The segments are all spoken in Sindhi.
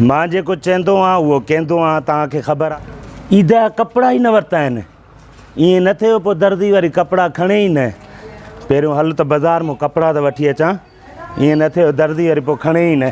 مان جيڪو چيندو آهيان اهو ڪيندو آهيان توهان کي خبر آهي. عيد جا ڪپڙا ئي نه ورتا آهن. ائين نه ٿئي جو پوء دردي وري ڪپڙا کڻي ئي نه. پهريون هل ته بازار مان ڪپڙا ته وٺي اچان. ائين نه ٿئي جو دردي وري پوء کڻي ئي نه.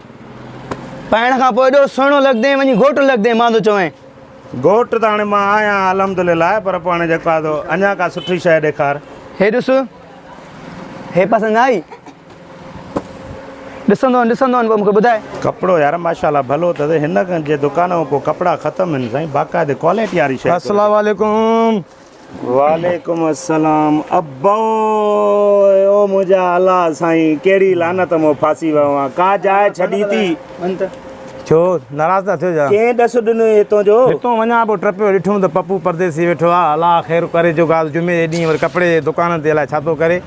پائڻ کان پوء ايڏو سهڻو لڳدين، وڃي گهوٽ لڳدين، مان ٿو چوين. گهوٽ ته هاڻي مان آهيان الحمد لله، پر پوء هاڻي جيڪو آهي سو اڃا ڪا سٺي شيء ڏيکار. هي ڏس، هي پسند نه آئي؟ ڏسندو وڃ، ڏسندو وڃ، پوء مون کي ٻڌاء. ڪپڙو يار ماشاء الله ڀلو اٿس، هن جي دڪان مان ڪو ڪپڙا ختم آهن سائين، باقاعدي ڪوالٽي واري شيء. اسلام عليڪم. وعليڪم السلام ابو او منهنجا الله سائين ڪهڙي لعنت مون ڦاسي ويو آهيان ڪا جاء ڇڏي ٿي ڇو ناراض ٿا ٿيو ڇا ڪنهن ڏس ڏنو هتون جو هتون وڃان پو ٽپيو ڏٺم ته پپو پرديسي ويٺو آهي الله خير ڪري جو ڳالهه جمعي جي ڏينهن وري ڪپڙي جي دڪانن تي الائي ڇا ٿو ڪري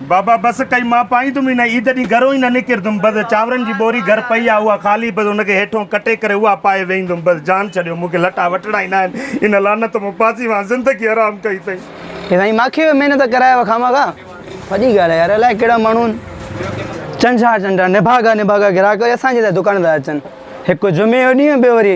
بابا بس ڪئي مان پائيندم ئي نه عيد ڏينهن گهرون ئي نه نڪرندم بس چانورن جي ٻوري گهر پئي آهي اها خالي بس ان کي هيٺون ڪٽي ڪري اها پائي ويهندم بس جان ڇڏيو مون کي لٽا وٺڻا ئي نه آهن ان لعنت مون پاسي وانهن زندگي حرام ڪئي اٿئي. اي سائين ماکي ۾ محنت ڪرايو خامخا. وڏي ڳالهه آهي يار الائي ڪهڙا ماڻهو آهن چنڊ جا چنڊ نڀاڳا نڀاڳا گراهڪ وري اسان جي لاء دڪان ته اچن هڪ جمعي جو ڏينهن ٻيو وري